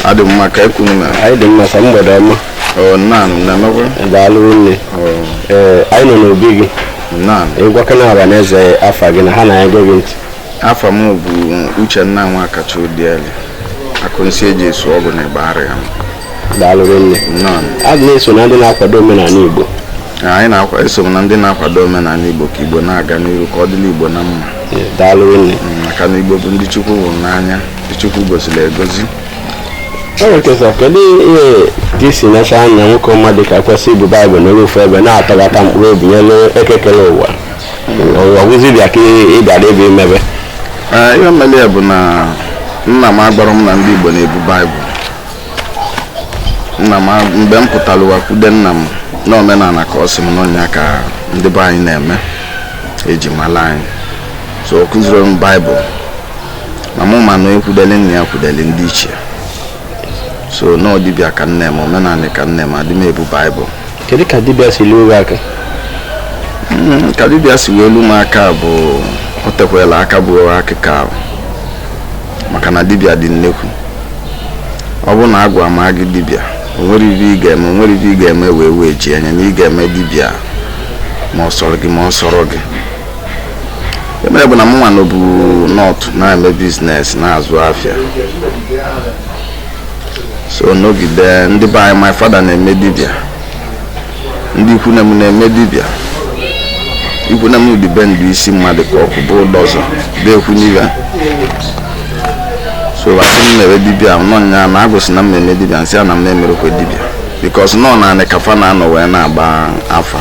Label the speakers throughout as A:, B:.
A: adị m mma kee ka unu mere anyị dị mma sa
B: mgbede ọma o nna anyị ị na-emekwa
A: daalụ nne
B: ọ ee anyị nọ n'obi gị nna anyị gwakene ọra na eze afa gị na ha na-ege gị ntị afa m
A: bụ uchenna nwakacha odieli akụnsi eji esu ọgwụ na igbariam
B: daalụ rinne nnọọ anyị na-eso na ndị na-akwado omenala igbo anyị
A: na-eso na ndị na-akwado omenala igbo ka igbo na-aga n'ihu ka ọ dịlị igbo na mma Ee, daalụ rinne
B: maka na igbo bụ ndị
A: chukwu hụrụ n'anya ndị chukwu goziri egozi o nwere
B: kesọ kedu ihe ka isi nacha anya nwoke ọma dị ka kwesị ibu baịbụl n'elu ofu ebe na-atọghata mkpụrụ obi nyelu eke kere ụwa ọ wụzi dibịa ka ị bịara ebe imebe Ee, ihe
A: mere ya bụ na nna m agwarọ m na ndị igbo na-ebu baịbụl nna m mgbe m pụtara ụwa kwude nna m n'omenala ka ọ sị m na ọ nya ka ndị be anyị na-eme eji mala anyị so ọ kụzirọ m baịbụl na mụ ma na ekwudeli nna ya kwudeli ndị ichie so na ọ dibịa ka m na-eme omenala ka m na-eme adị m ebu baịbụl kedu ka
B: dibịa si luo
A: aka hmm, ka dibịa si wee lu m aka bụ o tekwela aka bụ akịkọ ahụ maka na dibịa dị nnekwu ọ bụrụ na agwụ ma gị dibịa o nwerọ ive ị ga-eme o nwerọ ive ị ga-eme wee wee ji anya na ị ga-eme dibịa ma ọ sọrọ gị ma ọ sọrọ gị emere bụ na mụ nwa nọbu north na-eme business na-azụ afịa so nọgide ndị be anyị my father na-eme dibịa ndị ikwu nne m na-eme dibịa ikwu nne m ndị be ndụ isi mmadụ ka akụ bụ udọzọ dekwu n'ibe so a sị m mewe dibịa na ọ nya na agwụ sị na m na-eme dibịa m sị a na m na-emerọkwa dibịa because na ọ n'anị ka fa na-anọ wee na-agba afa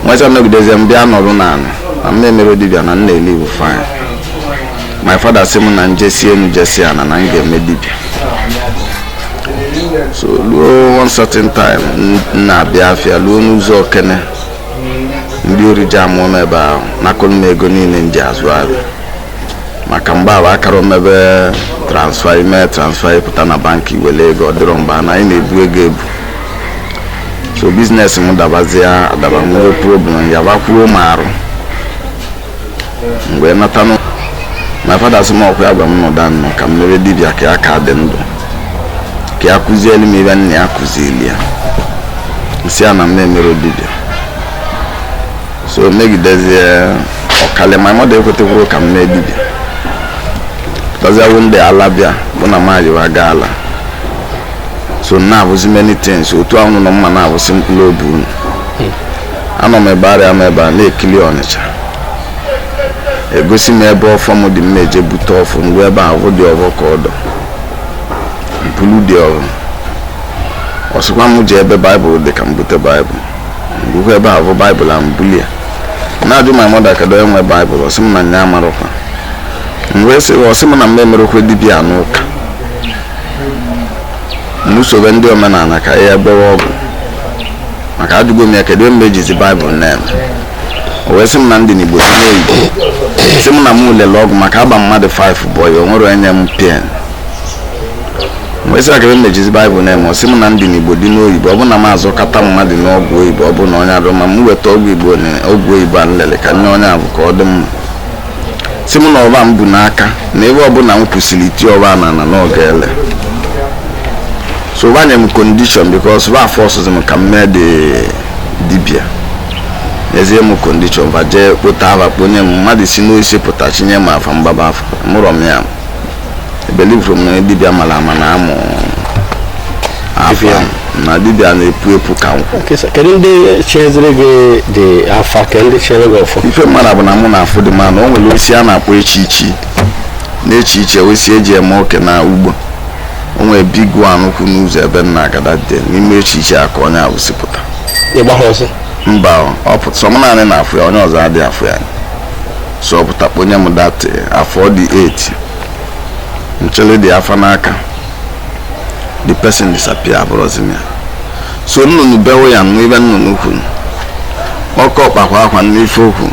A: nweta nọgidezie m bịa nọrụ n'anị na m na-emerọ dibịa na m na-ele ive fine my father sị m na m jesịa enu jesịa ana na m ga-eme dibịa so ruo one certain time m na-abịa afịa ruo n'ụzọ okene ndị ori ji amụọ m ebe ahụ nakọrọ m ego niile m ji azụ ahịa maka mgbe ahụ akarọ emebe transfer ime transfer ị pụta na bank were ego ọ dịrọ mgbe na anyị na-ebu ego ebu so business m dabazie adaba nwee problem ọya bakwuo m arụ mgbe m natanụ my father sị m ọ kwa ya gwa m nọdụ ana ka m mee dibịa ka ya ka dị ndụ ka ya kụzielu m ive nna ya kụzieli ya m sị a na m na-emerọ dibịa so megidezie ọkali my mother ekwetekwurọ ka m mee dibịa pụtaziawo ndị ala bịa bụ na m ajịwa gaa ala so m na-avụzi many things otu a unu nọ m na-avụsị mkpụrụ obi unu anọ m igbariam ebe a na-ekili ọnịcha egosi m ebe ọfọ m dị m eje bute ọfọ ngwa ebe ahụ the ọfọ ka ọ dọ m bulu the ọfọ ọ sịkwa m je ebe baịbụl dị ka m bute baịbụl ngwụkwa ebe ahụ baịbụl a m buli ya na-ajụ my mother kedu onye nwe baịbụl ọ sị m na nya amarọkwa m wee sị ọ sị m na m emerekwa dibia n'ụka mụ sobe ndị omenala ka ya gwọwa ọgwụ maka ajụgo m ya kedu ife m ejizi baịbụl na-eme o wee sị m na m dị n'igbo dị n'oyibo sị m na m lele ọgwụ maka agba mmadụ 5 bụọ ya o nwere onye nye m pen m wee sị ya kedu ife m ejizi baịbụl na-eme ọ sị m na m dị n'igbo dị n'oyibo ọ bụ na m azọkata mmadụ n'ọgwụ oyibo ọ bụ na onye adị mma m weta ọgwụ igbo na ọgwụ oyibo a nlele ka nye onye ahụ ka ọ dị mma sị mụ na ọba m bu n'aka na ife ọbụla m kwusiri tie ọba na na ọ ga-ele so va nye m condition because va forcezi m ka m mee the dibia nyezie m condition va jee kpọta afa kpọnye m mmadụ si n'osisi pụta chinye m afa m gbaba afa amụrọ m ya ebelieverọ m na dibịa mara ama na-amụ afa na dibịa na-epu epu ka nkwụ Okay, so kedu ndị chiziri
B: gị the afa kedu ndị chiri gị ọfọ ife m mara bụ na mụ na-afụ
A: the man na o nwere osisi a na-akpọ echichii na echichii osisi eji eme oke na ugbo o nwere big one kwụ n'ụzọ ebe a na-agada dị n'ime echichii a ka onye ahụ si pụta ị gbaha ọsọ
B: mba ọ
A: pụta sọ mụ naanị na-afụ ya onye ọzọ adịghị afụ ya so ọ pụta kpọnye m that afa dị 8 m chili the afa n'aka the person disappear afụrọzi m ya so nnụnụ bewe ya m nụ ife nnụnụ kwuru ọkọkpa kwa akwa m nụ ife o kwu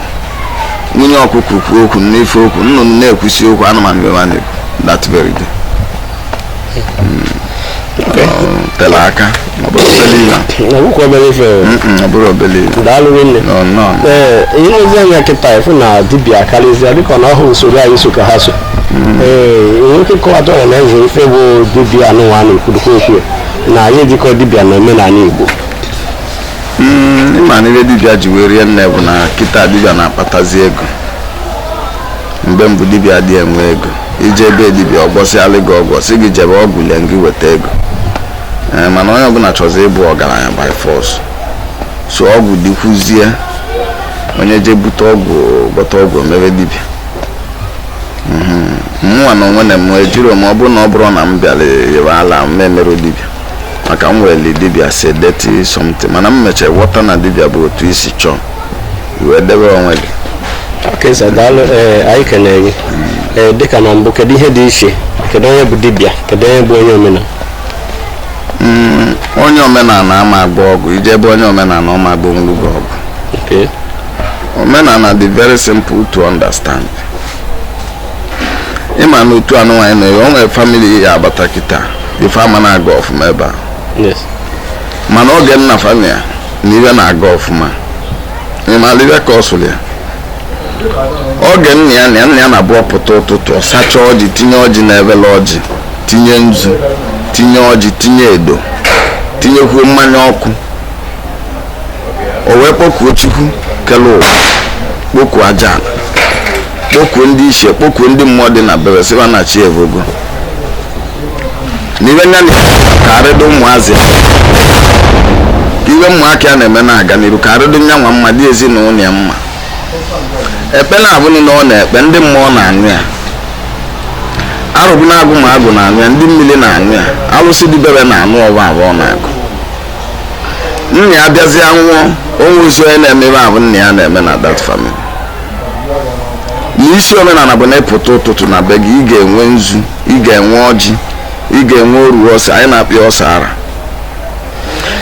A: nwunye ọkụkọ kwuo okwu m nụ ife o kwu nnụnụ na-ekwusi okwu anụmanụ bewa na-ekwu that very day tere aka ọ bụrọ obere ihe na nwukwu obere ife o. Mm-mm, ọ bụrọ obere ihe daalụ nne nọ
B: nnọọ ee i lezie anya kịta ị fụ na dibịa karịzịa dịka na ọ bụ usoro anyị so ka ha so ee i nwee ike kọwata ọra na eze ife bụ dibịa anụnwa na-ekwudokwa okwu na anyị ejikọ dibịa na omenala igbo
A: Mm, ịma na ihe dibịa ji wee rie nne bụ na kịta dibịa na-akpatazi ego mgbe mbụ dibịa adị enwe ego i je be dibịa ọ gwọsịalị gị ọgwụ sị gị jebe ọgwụ lie gị weta ego ee mana onye ọbụla chọzi ịbụ ọgaranya by force so ọgwụ dịkwuzie onye je bute ọgwụ gwọta ọgwụ mebe dibịa mụnwa n'onwe m ejiro m ọ bụrụ na ọ bụrọ na m bịara yibe ala m emerọ dibịa maka m weli dibịa as dirty something mana m mechara ghọta na dibịa bụ otu i si chọọ wee debe onwe gị Okay
B: sir daalụ ee anyị kenere gị ee dịka na mbụ kedu ihe dị iche kedu onye bụ dibịa kedu onye bụ onye omenala Mm,
A: onye omenala ama agwọ ọgwụ i jee be onye omenala ọ ma agwọnwuru gị ọgwụ
B: Okay.
A: omenala dị very simple to understand ị ma na otu anụ nwaanyị na-ewe o nwere family ị ya-abata kịta ife ama na-aga ọfụma ebe a yes
B: mana
A: oge nna family ya na ive na-aga ọfụma ị maara ive kọsụrụ ya oge nna ya nọ ya nna ya na-abụ ọ pụta ụtụtụ ọ sacha ọjị tinye ọjị na evele ọjị tinye nzu tinye ọjị tinye edo tinyekwuo mmanya ọkụ o wee kpọkuo chukwu kele ụwa kpọkuo aja ala kpọkuo ndị ichie kpọkuo ndị mmụọ dị na be ve sị va na chi evogo na ive nna karịdị ụmụazị ive ụmụaka ya na-eme na-aga n'iru ka ọ dịrị nya nwa mma dị ezinụlọ ya mma ekpele avụ nwa ọ na-ekpe ndị mmụọ na-anụ ya arọbinagụ ma agwụ na-anụ ya ndị mmiri na-anụ ya alụsị dị be ve na-anụ ọvọ avụ ọ na-agọ nna ya bịazie nwụọ o nwerọzi onye na-eme ive avụ nna ya na-eme na that family na isi omenala bụ na ị pụta ụtụtụ na be gị ị ga-enwe nzu ị ga-enwe ọjị ị ga-enwe oru ose anyị na-akpọ ya ose ọra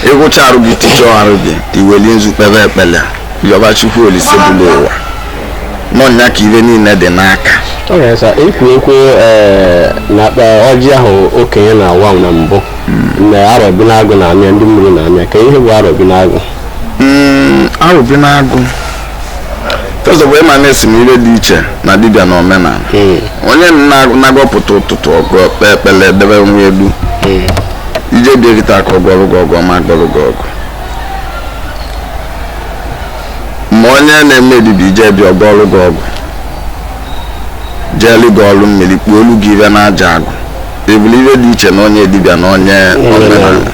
A: ị wụcha arụ gị ticha arụ gị i weli nzu kpebe ekpele yọba chukwu olisa bulu ụwa na ọ nya ka ive niile dị n'aka all right sir
B: ekwu ekwe ee, na akpa ọjị ahụ okenye na-awa na mbụ na arọbinagụ na-anụ ya ndị mmiri na-anụ ya kee ihe bụ arọbinagụ Mm,
A: arọbinagụ first of all ị ma na asị m ive dị iche na dibịa na omenala hmm. onye na-abụ ọ pụta ụtụtụ ọ gọọ kpee ekpele debe onwe ya elu hmm. i jee be ya kịta ka ọ gwọọrụ gị ọgwụ ọ ma-agwọrụ gị ọgwụ ma onye na-eme dibịa i jee be ya ọ gwọọrụ gị ọgwụ jeelu gị ọrụ mmiri kpuolu gị ive na aja agụ ọ bụlụ ihe dị iche na onye dibịa na onye omenala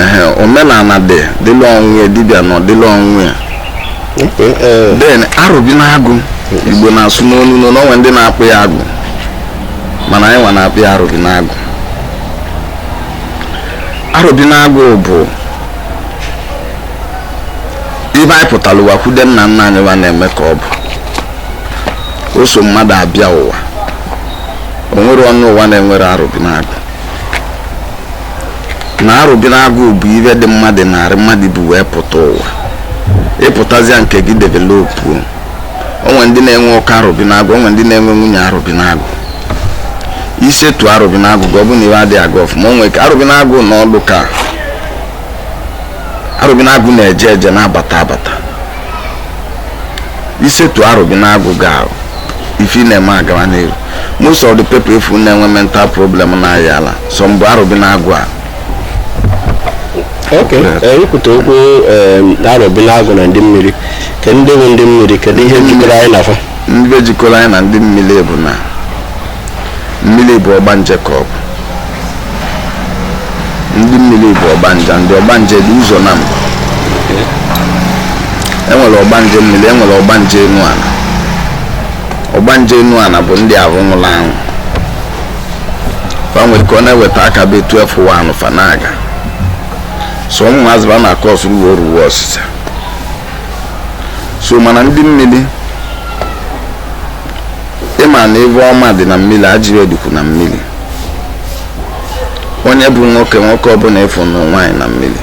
A: ehe omenala dị dịlị onwe ya dibịa nwa dịlị onwe ya then arọbinagụ igbo na-asụ n'onu n'onu o nwe ndị na-akpọ ya agwụ mana anyị nwa na-akpọ ya arọbinagụ arọbinagụ bụ ive anyị pụtara ụwa kwudo nna nna anyị wa na-eme ka ọ bụ o so mmadụ abịa ụwa o nwere ọnụ ụwa na-enwere arobinagụ na arobinagụ bụ ife dị mmadụ n'arụ mmadụ bu wee pụta ụwa ị pụtazịa nke gị developuo o nwe ndị na-enwe oke arobinagụ o nwe ndị na-enwe nwunye arobinagụ i setu arobinagụ gị ọ bụ na ife adịghị aga ọfụma o nwe ike arobinagụ nọdụ ka arobinagụ na-eje eje na-abata abata i setu arobinagụ gị ife ị na-eme agara n'iru most of the people ị fụ na-enwe mental problem na-aya ala so ọ bụ arobinagụ a
B: ok i kwute okwu arobinagụ na ndị mmiri ke ndị bụ ndị mmiri kedu ihe jikọrọ anyị na fa ihe jikọrọ anyị na
A: ndị mmiri bụ na mmiri bụ ọgbanje ka ọ bụ ndị mmiri bụ ọgbanje ndị ọgbanje dị ụzọ naabọ e nwere ọgbanje mmiri e nwere ọgbanje enu ana ọgbanje enu ana bụ ndị ahụ nwụrụ anwụ fa nwere ka ọ na-eweta aka by 12 1 fa na-aga so ụmụazị ba na-akọ ọsụ ruo ruo ọsịsọ so mana ndị mmiri ị ma na ife ọma dị na mmiri ajọ ife dịkwu na mmiri onye bụ nwoke nwoke ọbụla ị fụ nwe nwaanyị na mmiri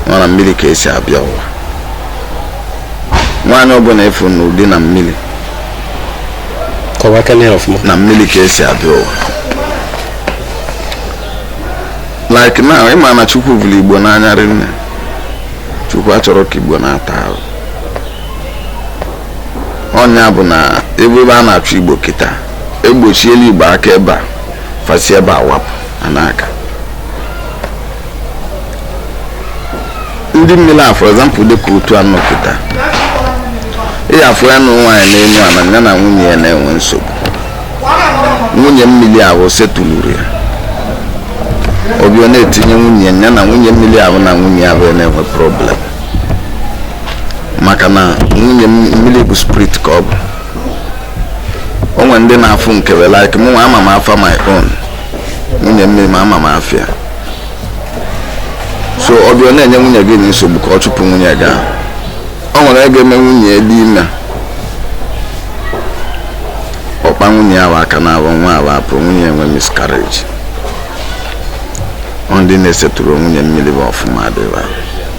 A: na na mmiri ka e si abịa ụwa nwaanyị ọbụla ị fụ nwe di na mmiri na mmiri ka e si abịa ụwa like now ị ma na chukwu fụrụ igbo n'anya rinne chukwu achọrọ ka igbo na-ata ahụhụ ọ nya bụ na ebe a na-achụ igbo kịta egbochiela igbo aka ebe a fa si ebe a wapụ a na-aga ndị mmiri a for example dịka otu a nọpụta ị ya afụ ya na nwaanyị n'elu ala ya na nwunye ya na-enwe nsogbu nwunye mmiri ahụ setụluru ya obi ọ na-etinye nwunye ya na nwunye mmiri ahụ na nwunye ahụ ya na-enwe problem maka na nwunye mmiri bụ spirit ka ọ bụ o nwe ndị na-afụ nke we like mụ nwa ama m afa my own nwunye mmiri ma ama m afa ya so ọ bịa ọ na-enye nwunye gị nsogbu ka ọ chụpụ nwunye gị ahụ o nwere ike mee nwunye dị ime ọ kpa nwunye ahụ aka n'afọ nwa ahụ apụ nwunye enwe miscarriage ọ ndị na-eseturọ nwunye mmiri ba ọfụma adịghị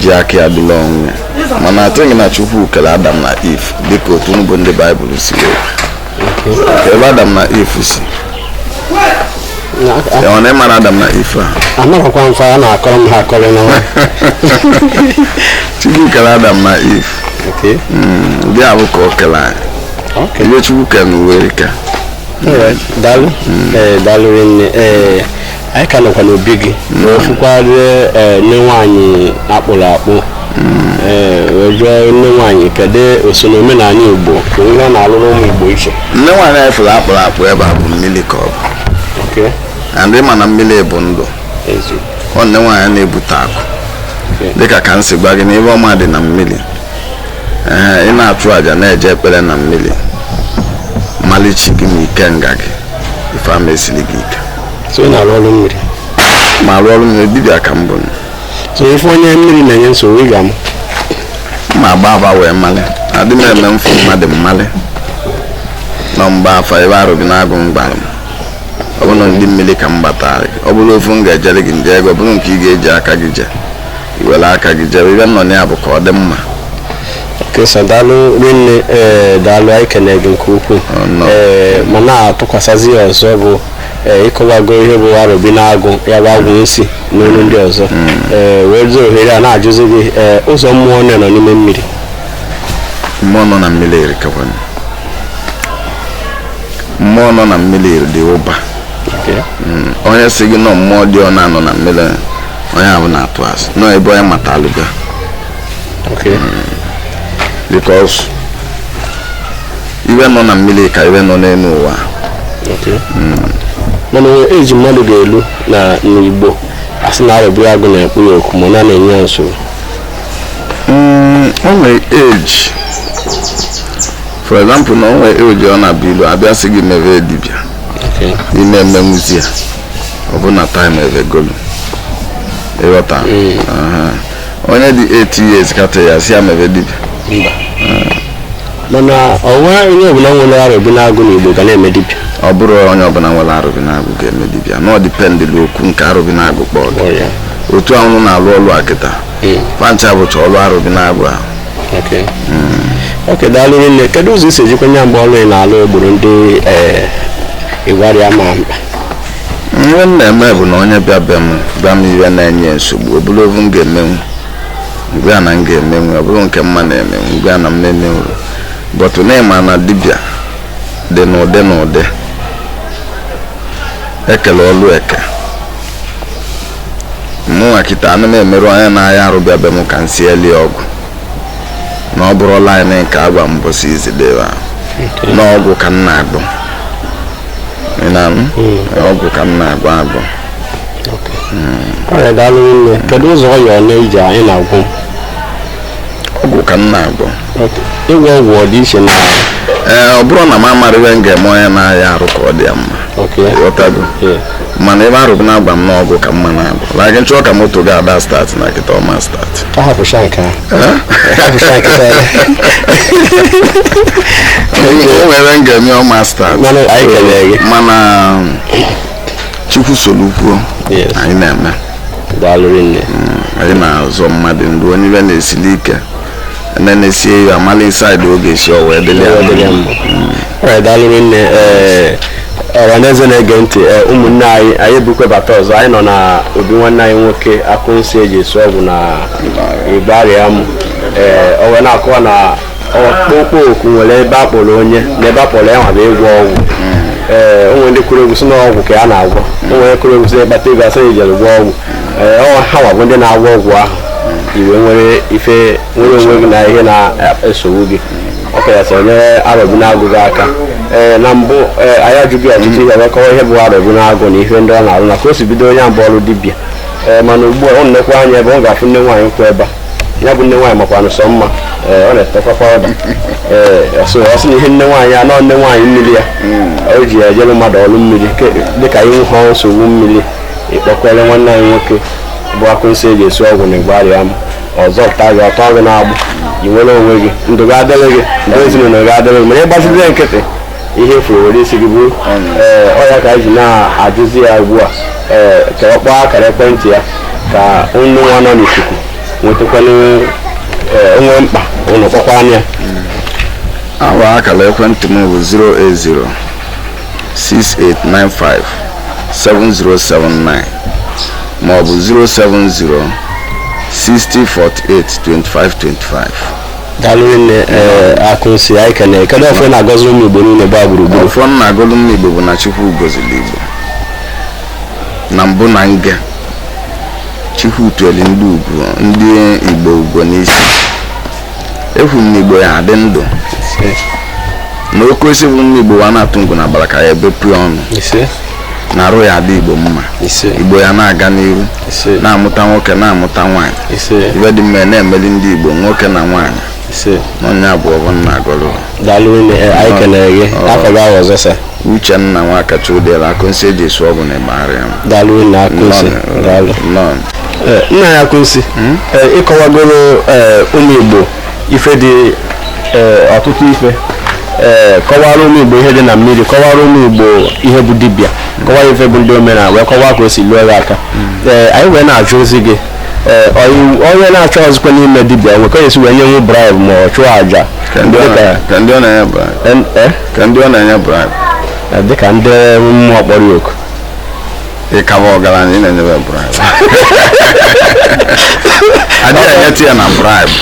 A: ji aka ya dịla onwe mana atụghị na chukwu kere adam na eve dịka otu bụ ndị baịbụl si ebe adam na eve si ọ na ịmara adam na eve a anaghịkwa mfe a
B: na-akọrọ m ha akọrọ
A: na chukwu kere adam na eve hmm, ndị abụ ka o kere anyị ihe chukwu kere n'ụwa erika
B: daalụ hmm. eh, daalụ rinne eh, anyị ka nọkwa n'obi gị na ofukwarịa eh, nne nwaanyị a kpụrụ akpụ ee wee jụọ nne nwaanyị kedu o so na omenala igbo ka ihe ọ na-alụrụ ụmụ igbo iche nne nwaanyị anyị fụrụ
A: a kpụrụ akpụ ebe a bụ mmiri ka ọ bụ okay and ị ma na mmiri bụ ndụ ezi ọ nne nwaanyị na-ebute akụ Okay. dịka ka m si gwa gị na ive ọma dị na mmiri ee ị na-achụ àjà na-eje ekpere na mmiri malị chi gị na ikenga gị ife ama esili gị ike so ị na-arụ
B: ọrụ mmiri ma arụ
A: ọrụ mmiri dibịa ka m bụ so ife
B: onye mmiri na-enye nsogbu ị ga m ma
A: agba afa wee malị adị m eme m fụ mmadụ m malị no m gbaa afa ebe arobinagụ m gbara m ọ bụrụ ndị mmiri ka m gbatara gị ọ bụrụ ofu m ga-ejere gị m jeere gị ọ bụrụ nke ị ga-eji aka gị jee i were aka gị jebe ive nọ na ya bụ ka ọ dị mma
B: kesa daalụ rinne ee daalụ anyị kene gị nke ukwuu Oh, no. ee ma na-atụkwasazị ya ọzọ bụ ee ị kọwago ihe bụ arobinagụ ya bụ agwụ nsi n'olu ndị ọzọ ee werezi ohere a na-ajụzi gị ee ụzọ mmụọ one nọ n'ime
A: mmiri mmụọ nọ na mmiri erikakwana mmụọ nọ na mmiri dị ụba onye sị gị na ọ mmụọ dị one a nọ na mmiri onye ahụ na-atụ asị nọ ebe onye mata alụga okay because ihe nọ na mmiri ka ihe nọ n'elu ụwa
B: okay mana e nwe age mmadụ ga-elu na n'igbo a sị na arobinagụ na-akpọ ya oku ma na na-enye ya nsogbu Mm,
A: o nwere age for example na o nwe age ọ na-abụ i luo a bịa sị gị mebe dibịa ị ma emenwuzi ya ọ bụ na time evegolu ị ghọta Aha. onye dị 8 years kịta a sị ya mebe dibịa mba
B: mana ọ na onye ọbụla nwere arobinagụ n'igbo ga na-eme dibịa ọ bụrọ onye
A: ọbụla nwere arobinagụ ga-eme dibịa na ọ dependịlụ oku nke arobinagụ kpọọ gị kpọrọ ya otu anwụ na-alụ ọlụ a kịta Mm. fancha bụcha ọlụ arobinagụ ahụ Okay.
B: Okay, daalụ rinne kedu ụzọ i si ejikwa nye mgbe ọrụ ị na-alụ egboro ndị eh, igbariam mkpa
A: ihe m na-eme bụ na onye bịa be m gwa m ihe na-enye nsogbu ọ bụrụ ovu m ga-emenwu m gwa ya na m ga-emenwu ọ bụrụ nke m ma na-emenwu m gwa ya na m emenwurọ but na ị ma na dibịa dị n'ụdị n'ụdị e kele ọlụ eke mụnwa kịta ana m emerụ onye na-aya arụ bịa be m ka m sielie ọgwụ na ọ bụrụ line nke a gwa m mbọsị izidebe na ọgwụ ka m na-agwọ Ị na-anụ? ọgwụ ka m na-agwọ agwọ ọrịa
B: daalụ rinne kedu ụzọ ọya ole iji anyị na-agwọ
A: ọgwụ ka m na-agwọ ịgwọ
B: ọgwụ ọ dị iche na ee ọ
A: bụrụ na m amara ihe m ga-eme onye na-aya arụ ka ọ dị ya mma okay ghọtago Yeah. mana ebe Arọbịnagụ gwa m na ọgwụ ka mma na-agwọ na gị chọọ ka moto gị ada start na kịta ọ ma start a hapụcha nke ahụ a
B: hapụcha
A: nke ahụ o nwere m ga-eme ọ ma start Mana anyị kelere gị. mana chukwu soro kwuo Yes. anyị na-eme daalụ
B: rinne Mm, anyị
A: na-azọ mmadụ ndụ onye ife na-esili ike ene na-esie ya amala inside oge si o wee dịrị ya Ọ dịrị ya mma. mma.
B: Alright, daalụ rinne ee ọhaneze na-ege ntị ee, ụmụnne anyị anyị ebukwebata ọzọ anyị nọ na obi nwanne anyị nwoke Akụnsi eji esi ọgwụ na Igbariam ee o wee na-akọwa na ọkpụkpọ oku nwere ebe a kpọrọ onye na ebe a kpọrọ ya nwa bụ ịgwọ ọgwụ ee o nwere ndị kụrụ egwu sị na ọgwụ ka ya na-agwọ o nwere kụrụ egwu sị na ị kpata ego a sị na i jere gwọọ ọgwụ ee ọ ha nwa bụ ndị na-agwọ ọgwụ ahụ i wee nwere ife nwere onwe gị na ihe na-esogbu gị ọ kachasị onye Arọbịnagụ ji aka ee na mbụ ee anyị ajụghị ọtụtụ ihe wee kọwa ihe bụ Arọbịnagụ na ihe ndị ọ na-arụ na ka o si bido onye abụ ọrụ dibịa ee mana ugbu a o nekwa anya ebe ọ ga-afụ nne nwaanyị kwụ ebe a ya bụ nne nwaanyị makwanụ sọ mma ee, ọ na-etekwa powder ee ọ sị ọ sị na ihe nne nwaanyị a nọ nne nwaanyị mmiri a o ji ya ejere mmadụ ọrụ mmiri ke- dịka i nwe ha nsogbu mmiri ị kpọkwere nwanne anyị nwoke bụ Akụnsi eji esi ọgwụ na Igbariam ọ zọpụta gị ọ tọọ gị n'agbụ i nwere onwe gị ndụ gị adịrị gị ndụ ezinụlọ gị adịrị gị mana ị gbaziri ya nkịtị ihe ị fụrụ were isi gị buru ee ọ ya ka anyị ji na-ajụzi ya ugbu a ee ka ọ kpọọ akara ekwentị ya ka ụnụ nwa nọ n'ikuku nwetakwanụ ee o nwee mkpa ụnụ kpọkwaa
A: ya nwa akara ekwentị m bụ 08068957079 maọbụ 07060482525
B: daalụ rinne eh, Akụnsi anyị kene kedu ọfọ ị na-agọzi ụmụ igbo niile gbaa gburugburu ọfọ m na-agọlụ ụmụ
A: igbo bụ na chukwu gọziri igbo na mbụ na nga chukwu tueli ndị ugo ndị igbo ugo n'isi ekwu m na igbo ya adị ndụ na oke osisi bụ ụmụ igbo wa na-atụ ngụ na agbara ka ya ebepụ ya onu isee na-arụ ya adị igbo mma igbo ya na-aga n'iru na-amụta nwoke na-amụta nwaanyị ive dị mma na-emeli ndị igbo nwoke na nwaanyị nya bụ ọvọ m na-agọrọ daalụ nne eh,
B: anyị kenere gị afa gị ahụ ọzọ sa uchenna
A: nwakacha udela akụnsi eji esu ọgwụ na igbariam daalụ nne
B: akụnsi daalụ eh, nna anyị akụnsi hmm? eh, ịkọwagoro ụmụ igbo ife dị eh, ọtụtụ ife eh, kọwara ụmụ igbo ihe dị na mmiri kọwara ụmụ igbo ihe bụ dibịa kọwara ife bụ ndị omenala wee kọwaa ka o si luo gị aka ee anyị wee na-ajụzi gị ee ọyị- onye na-ajụzikwa n'ime dibịa nwe ka e si wee nyenwu bribe ma ọ chụọ aja ka ndị ọ dịka
A: na- ka ndị ọ na-enye bribe en- eh, ka ndị ọ na-enye bribe dịka ndị
B: mmụọ kpọrọ ya oku
A: ịkawa ọgaranya ị na-enyebe bribe adịghị enyetụ ya na bribe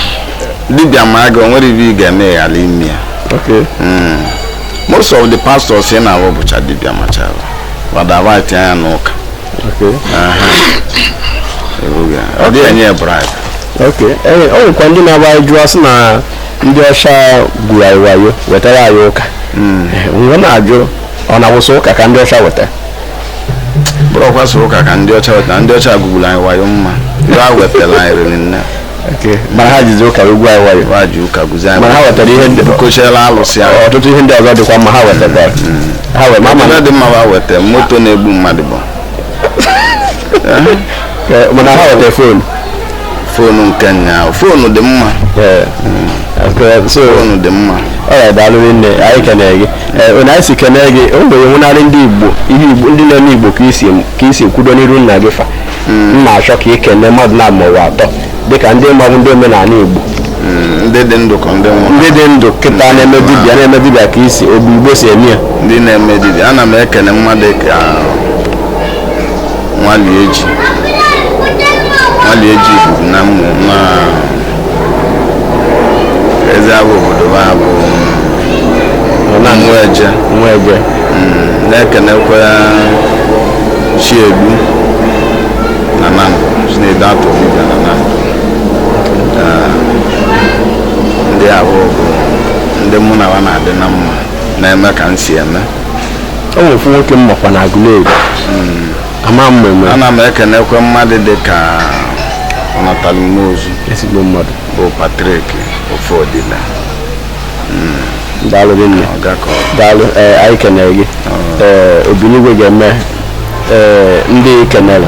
A: dibịa ma gị o nwere ive ị ga-eme ya ghara ime ya Okay. Mm. most of the pastors ị na-avụ bụcha dibịa machara wa daba tinye ya n'ụka Okay. Ebughị ya. ọ dịghị enye ya bribe Okay.
B: Ee, o nwekwa ndị na-agba anyị jụọ sị na ndị ọcha gwuru anyị wayo wetara anyị ụka. Ee, M wee na-ajụ ọ na-abụ so ụka ka ndị ọcha weta.
A: bụrụkwa so ụka ka ndị ọcha na ndị ọcha gwugburu anyị wayo ma ive ha wetara anyị riri nne Okay. mana ha
B: jizi ụka egwu anyị wayo ha ji ụka gwuzi anyị
A: mana ha wetara ihe
B: ndị kochiela alụsị
A: ahụ ọtụtụ ihe ndị ọzọ dịkwa
B: mma ha wetara ha wee ma ma
A: na dị mma ha weta moto na-egbu mmadụ bụ
B: Eh, mana ha weta
A: fon fonu nke nya fonu dị mma Eh, okay, so fonu dị mma ọya daalụ nne
B: anyị kenere gị Eh, onye anyị si kenere gị o nwere nwụnarị ndị igbo ihe igbo ndị na-eme igbo ka i si ka i si kwudo n'iru nna gị fa m na-achọ ka ị kene mmadụ naabọ maọbụ atọ dịka ndị mmadụ ndị omenala igbo Mm, ndị
A: dị ndụ ka ndị nwụrụ ndị dị ndụ kịta
B: na-eme dibịa na-eme dibịa ka isi obi igbo si eme ya ndị na-eme dibịa
A: ana m ekene mmadụ ka Nwalieji Nwalieji bụ na mmụ na eze abụ obodo ha bụ Nteje nwa egbe na-ekenekwa Chiegbu n'Anam Chinedu Atọbụga n'Anam Ah, ndị ahụ bụ ndị mụ na ha na-adị na mma na-eme ka m si eme o
B: nwere ofu nwoke m makwa na Aguleri ama m eme ana m ekenekwe
A: mmadụ dị ka ọnatalụ mmụọ ozu ezigbo mmadụ bụ
B: patrik ofodile daalụ gị nne ọgakọ daalụ ee anyị kenere gị ee obinigwe ga-eme ee ndị kenere